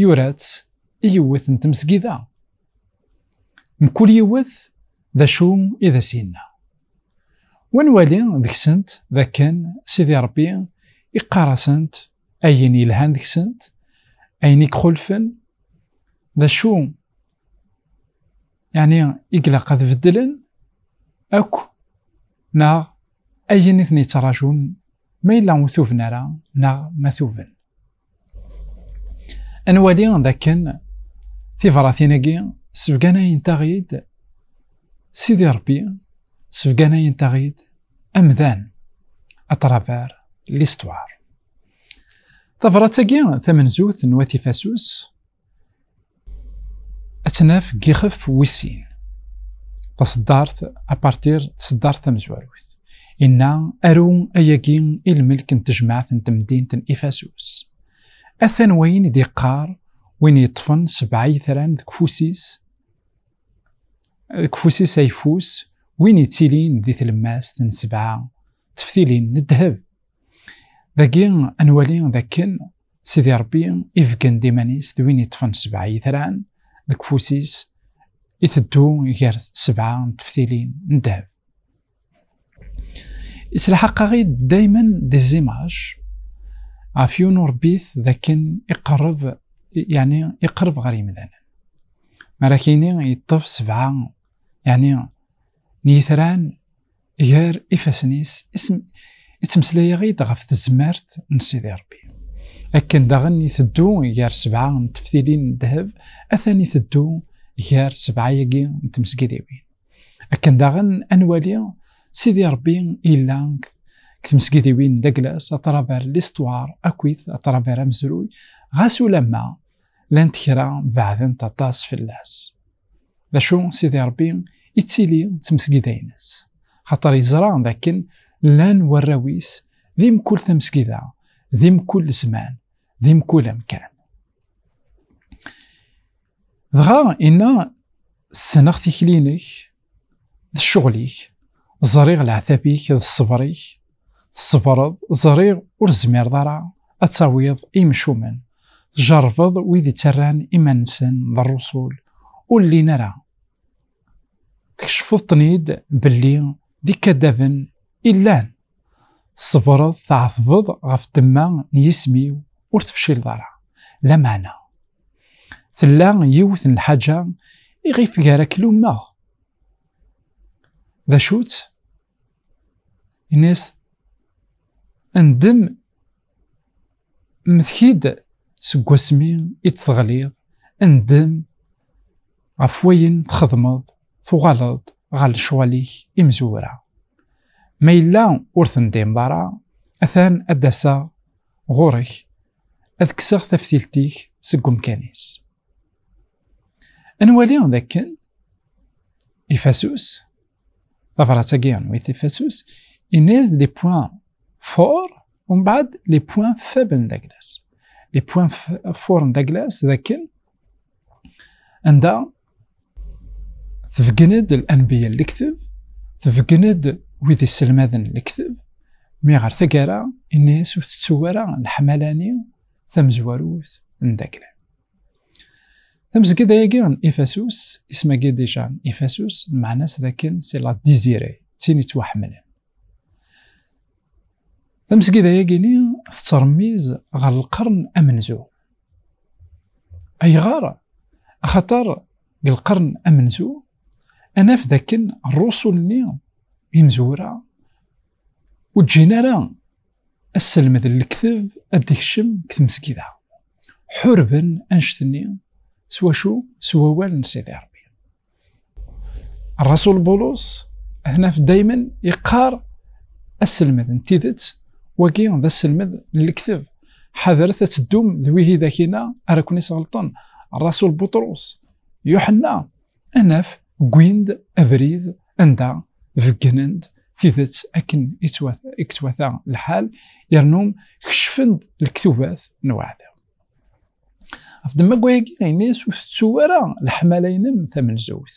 yura-tt i yiwet n tmesgida. Mkul yiwet d acu i d as-yenna. Wa nwali deg-sent d akken Sidi Ṛebbi iqqar-asent ayen yelhan deg-sent, ayen i ixulfen, d acu yeɛni i ilaq ad beddlen akk neɣ ayen i ten-yettṛajun ma yella ur tuben ara neɣ ma tuben. Ad nwali dakken tibṛatin-agi sbegganayent-aɣ-id Sidi Ṛebbi, sbegganayent-aɣ-id amdan, à travers l'histoire. Tabṛat-agi tamenzut n Wat Ifasus, ad tnaf deg yixef wis sin taseddart apartir tseddart tamezwarut inna aru ayagi i lmelk n tejmaɛt n temdint n ifasus atan wayen i d-yeqqar win yeṭṭfen sebɛa yitran deg ufus-is deg ufus-is ayeffus win yettilin di tlemmast n sebɛa teftilin n ddheb dagi ad nwali dakken Sidi Ṛebbi ibeggen-d iman-is d win yeṭṭfen sebɛa yitran deg ufus-is, iteddu gar sebɛa n teftilin n ddheb. Ittelḥaq-aɣ-id daymen di zimaj ɣef yiwen urebbit d akken iqerreb, yeɛni iqerreb ɣer yimdanen. Mi ara k-yini yeṭṭef sebɛa, yeɛni n yitran gar ifassen-is ittmeslay-aɣ-id ɣef tezmert n Sidi Rebbi. Akken daɣen iteddu gar sebɛa n teftilin n ddheb, atan iteddu gar sebɛa-agi n tmesgidiwin. Akken daɣen anwali Sidi Rebbi illa deg tmesgidiwin d aglas atraver listwar akkit atraver amezruy ɣas ulamma llant kra beɛdent aṭas fell-as. D acu Sidi Ṛebbi ittili d tmesgida-ines? Xaṭer yeẓra d akken llan warraw-is di mkul tamesgida, di mkul zzman, di mkul amkan. Dɣa inna ssneɣ tikli-inek d ccɣel-ik, ẓriɣ leɛtab-ik d ṣṣber-ik Tṣebreḍ, ẓriɣ ur zmireḍ ara ad tawiḍ imcumen. Tjerrbeḍ wid ittarran iman-nsen d rrusul, ur llin ara. Tkecfeḍ-ten-id belli d ikadaben i llan. Tṣebreḍ, tɛetbeḍ ɣef ddemma n yisem-iw, ur tefcileḍ ara. Lameɛna, tella yiwet n lḥaǧa iɣef gar-ak lummeɣ. D acu-tt? Yenna-yas, Ndem mteki-d seg wasmi i d-teɣliḍ, ndem ɣef wayen txedmeḍ, tuɣaleḍ ɣer lecɣal-ik imezwura. Ma yella ur tendimeḍ ara, atan ad d-aseɣ ɣur-k, ad kkseɣ taftilt-ik seg umkan-is. Ad nwali d akken ifasus tabrat-agi yernu-it tifasus, inna-yas-d les points forts ومن بعد les points faibles n Douglas. Les points forts n Douglas d akken anda tebgen-d l-anbiya lekteb, tebgen-d wid iselmaden lekteb, mi ɣer tagara inna-yas ur tettuw ara leḥmala-ni tamezwarut n Douglas. tamezgida yagi n ifasus ismagi dija n ifasus meɛna-s d akken si la dizire d tin yettwaḥemmlen tamezgida yagi-ni tettṛemmiz ɣer lqern amenzu ayɣer axaṭer deg lqern amenzu anaf d akken rrusul-nni imezwura ur ǧǧin ara asselmed n lekteb ad d-ikcem deg tmesgida. Ḥurben anect-nni s wacu? S wawal n Sidi Rebbi. Rasul Bulus ad naf daymen yeqqar asselmed n tidet wagi d asselmed n lekteb. Ḥadret ad teddum d wihidak-ina ara ken-isɣelṭen. Rasul Buṭrus, Yuḥenna, anaf gwin-d abrid anda beggnen-d tidet akken i yettwata lḥal yernu kecfen-d lektubat n uɛdaw. Ɣef ddemma n wayagi, ini-as ur tettu ara leḥmala-nnem tamenzut.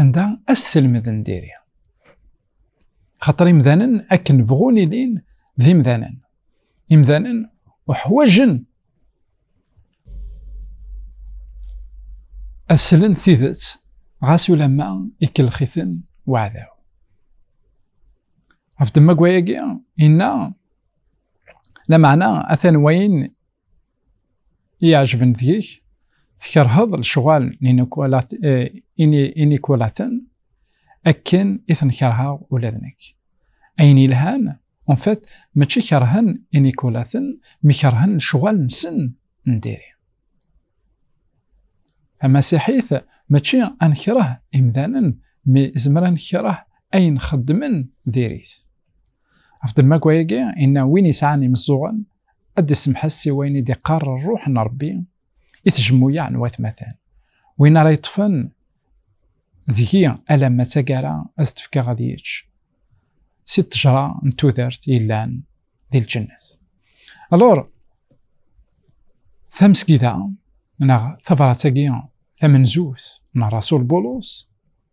anda asselmed n diri xaṭer imdanen akken bɣun ilin d imdanen imdanen uḥwajen aslen tidet ɣas ulamma ikelxiten waɛdaw ɣef ddemma n wayagi inna lameɛna atan wayen i iɛejben deg-k, tkerheḍ lecɣal n inikulaten eh, akken i ten-kerheɣ ula d nekk. Ayen yelhan, en fait, mačči kerhen inikulaten, mi kerhen lecɣal-nsen n diri. Tamasiḥit mačči ad nekreh imdanen, mi zemren ad nekreh ayen xeddmen diri-t. Af d magwa yagi, inna win yesɛan imeẓẓuɣen, ad d-isemḥes si wayen i d-iqqar rruḥ n Rebbi i tjemmuyaɛ n watmaten. Win ara yeṭṭfen deg-i alamma d taggara ad t-fkeɣ ad yečč si ṭṭejra n tudert yellan di lǧennet. Alor, tamesgida neɣ tabrat-agi tamenzut n Rasul Bulus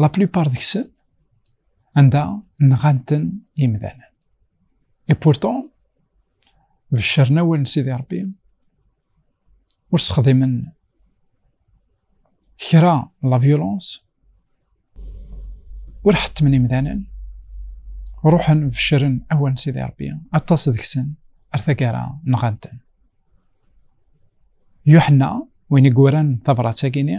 la plupart deg-sen anda nɣan-ten imdanen et pourtant beccren awal n Sidi Rebbi ur sexdimen kra la violence ur ḥettmen imdanen ruḥen beccren awal n Sidi Rebbi aṭas deg-sen ar tagara nɣan-ten Yuḥenna win i yuran tabrat-agi-ni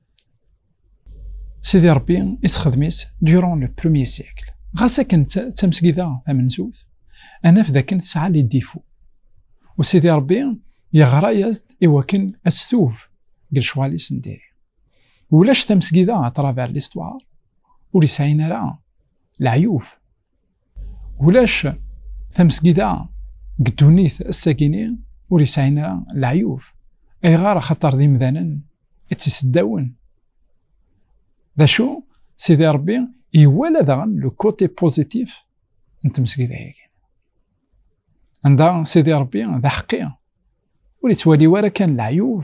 Sidi Ṛebbi isexdem-is durant le premier siècle. Ɣas akken d tamesgida tamenzut, ad naf dakken tesɛa les défauts. U Sidi Ṛebbi yeɣra-as-d i wakken ad testub deg lecɣal-is n diri. Ulac tamesgida à travers l'histoire ur yesɛin ara leɛyub. Ulac tamesgida deg ddunit ass-agini ur yesɛin ara leɛyub ayɣer axaṭer d imdanen i tt-iseddawen d acu sidi rebbi iwala daɣen le côté positif n tmesgida-agi anda sidi rebbi d aḥeqqi ur yettwali ara kan leɛyub